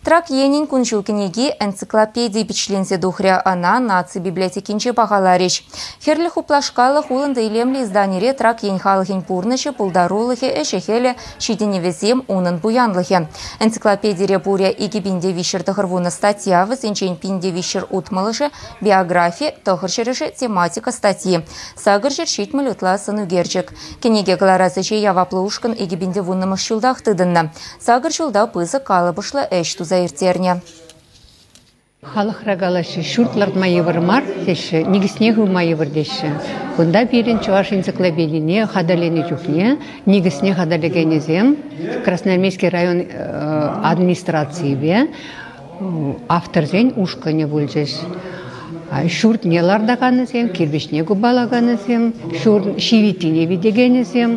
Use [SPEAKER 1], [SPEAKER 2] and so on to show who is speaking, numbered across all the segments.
[SPEAKER 1] Трак енӗн кун-ҫул кӗнеки энциклопеди пичленсе тухрӗ. Ӑна наци библиотекинче пахаларӗҫ. Хӗрлӗ хуплашкаллӑ хулӑнтӑ илемлӗ изданире Трак ен халӑхӗн пурнӑҫӗ, пултарулӑхӗ, ӗҫӗ-хӗлӗ, ҫитӗнӗвӗсем, унӑн пуянлӑхӗ. Энциклопедире пурӗ икӗ пин те виҫҫӗр тӑхӑр вунӑ статья, вӗсенчен пин те виҫҫӗр утмӑлӑшӗ биографи, тӑхӑр ҫӗрӗшӗ тематика статьи. Сакӑр ҫӗр ҫитмӗл ытла сӑнӳкерчӗк. Кӗнеке кӑларас ӗҫе яваплӑ ушкӑн икӗ пин те вуннӑмӗш ҫултах тытӑннӑ. Сакӑр ҫулта пысӑк калӑпӑшлӑ ӗҫ туса ирттернӗ.
[SPEAKER 2] Халӑхра калаҫҫӗ, ҫурт лартма йывӑр мар теҫҫӗ, никӗсне хывма йывӑр теҫҫӗ. Кунта пирӗн чӑваш энциклопедине хатӗрленӗ чухне никӗсне хатӗрлекенӗсем Красноармейски район администрацийӗпе Авторсен ушкӑнӗ пулчӗҫ. Ҫуртне лартаканӗсем, кирпӗчне купалаканӗсем, ҫурт ҫивиттине витекенӗсем,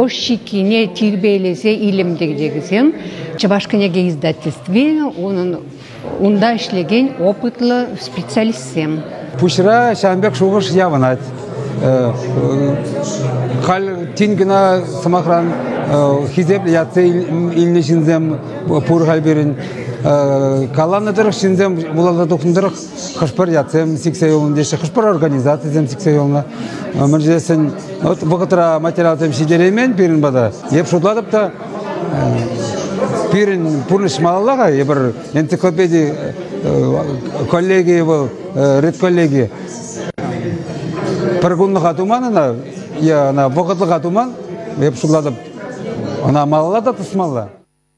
[SPEAKER 2] ӑш ҫиккине тирпейлесе илем тӗрекенӗсем Чӑваш кӗнеке издательстви унӑн унта ӗҫлекен опытлӑ специалистсем. Пуҫра
[SPEAKER 3] ҫавӑн пек шухӑш явӑнать. Халь тин кӑна, сӑмахран, хисеплӗ ятсем илнӗ ҫынсем пур халь пирӗн. Каланӑ тӑрӑх ҫынсем вуласа тухнӑ тӑрӑх хӑш-пӗр ятсем сиксе юлнӑ теҫҫӗ, хӑш-пӗр организацисем сиксе юлнӑ. Мӗн тесен вот вӑхӑтра материалсем ҫитереймен пирӗн пата. Эп шутлатӑп та пирӗн пурнӑҫ малалла-ха. Эпир энциклопеди коллегийӗ вӑл редколлеги пӗр кунлӑха туман ӑна е ӑна вӑхӑтлӑха туман эп шутлатӑп ӑна малалла та тӑсмалла.